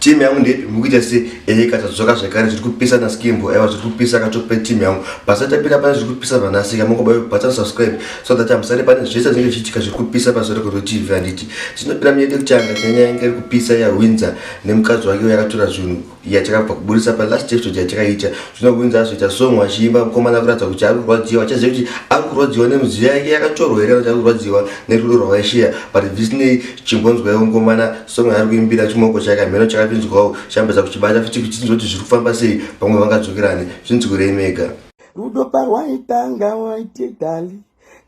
team yangu ndeipi mukuita se eyeka tadzoka zvekare zviri kupisa na skimbo aiwa zviri kupisa katope team yangu basa tapira pane zviri kupisa vanasika mokobayo bhatsa subscribe so that amusare pane zvese zvinenge zvichiitika zviri kupisa pasore kuri tv handiti tinopira miyede kuti anga nyanya yange iri kupisa ya winza nemukadzi wake yakatora zvinhu yatakabva kuburitsa pa last episode yatakaita zvino winza azoita song wachiimba mukomana kuratidza kuti ari kurwadziwa achaziva kuti ari kurwadziwa nemudziyo yake yakatorwa here kuti ari kurwadziwa nerudo rwavaishiya but visinei chimbonzwaiwo mukomana song yaari kuimbira chimoko chake hameno chakapinzwawo chambeza kuchibata futi kuchinzwa kuti zviri kufamba sei pamwe vangadzokerane zvinzwirei mega rudo parwaitanga waitidali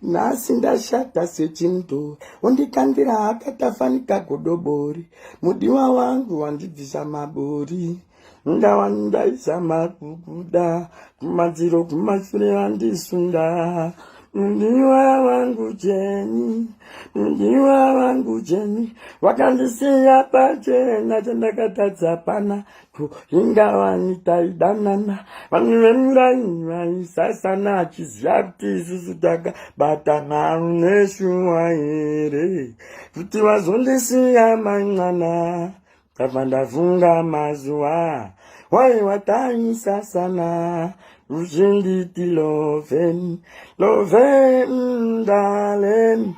nhasi ndashata sechindo undikandira akatafanika godobori mudiwa wangu wandibvisa mabori ndava ndaizama kubuda kumadziro kumashure vandisunda ndiwa vangu jeni ndiwa vangu jeni vakandisiya pachena chandakatadza pana ko ingavani taidanana vanhu vemuraini vaisasana achiziva kuti isusu takabatana neshuwa here kuti vazondisiya man'ana Ndabva ndafunga mazuva waiwatanyisa sana uzvinditi loven loven ndalen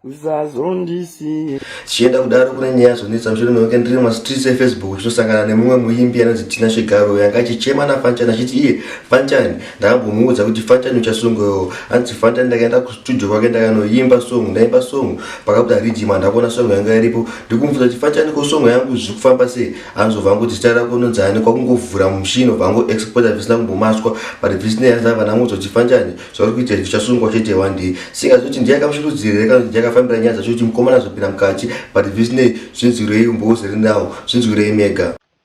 uzazondisiye tichienda kudaro kune nyaya zonetsa mushure meweke ndiri mumastreets efacebook zvinosangana nemumwe muimbi anonzi tina shigaro yanga achichema nafanchani achiti iye fanchani ndakambomuudza kuti fanta nyucha song yo hanzi fanta ndakaenda kustudio kwake ndakanoimba song ndaimba song pakabuda riddim handakuona song yanga iripo ndikumubvunza kuti fanta niko song yangu zviri kufamba sei anzova vangu kuti zita rako nonzani kwakungovhura mushino vangu exporta zvisina kumbomaswa but zvisina yanza vanamuudza kuti fanchani zvauri kuita izvi zvichasungwa chete one day singazoti ndiye akamushurudzira here kana kuti ndiye akafambira nyaya dzacho kuti mukomana azopinda mukati but zvisinei zvinzwirei umbouze rinawo zvinzwirei mega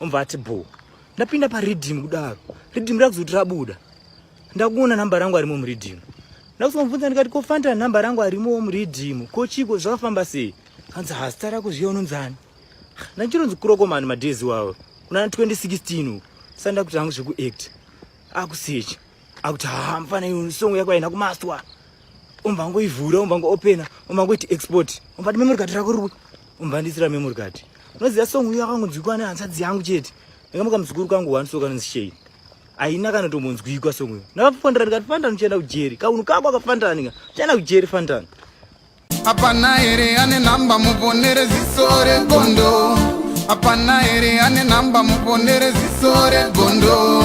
omva ati bho ndapinda paridhimu kudaro ridhimu rakuzoti rabuda ndakuona namba rangu arimo muridhimu ndakuzombvunza ndikati ko fanta namba rangu arimowo muridhimu ko chiko zvakafamba sei hanzi hazita rako zviya unonzani ndachironzi kurokomani madhezi wawo kunana 2016 sa ndakuti hangu zvekuact akusechi akuti haa mfana iyo songo yako aina kumaswa umva ngoivhura umva ngoopena umva ngoiti export umva ti memory card rako riko umva ndisira memory card unoziva song uyo akangonzwikwa nehanzadzi yangu chete ndakamuka muzukuru kangu one so kanonzi shei haina kana tombonzwikwa song uyo ndakafandana ndikati fandana uchienda kujeri kaunhu kako akafandana ndika uchienda kujeri fandana hapana here ane nhamba muponere ziso regondo hapana here ane nhamba muponere ziso regondo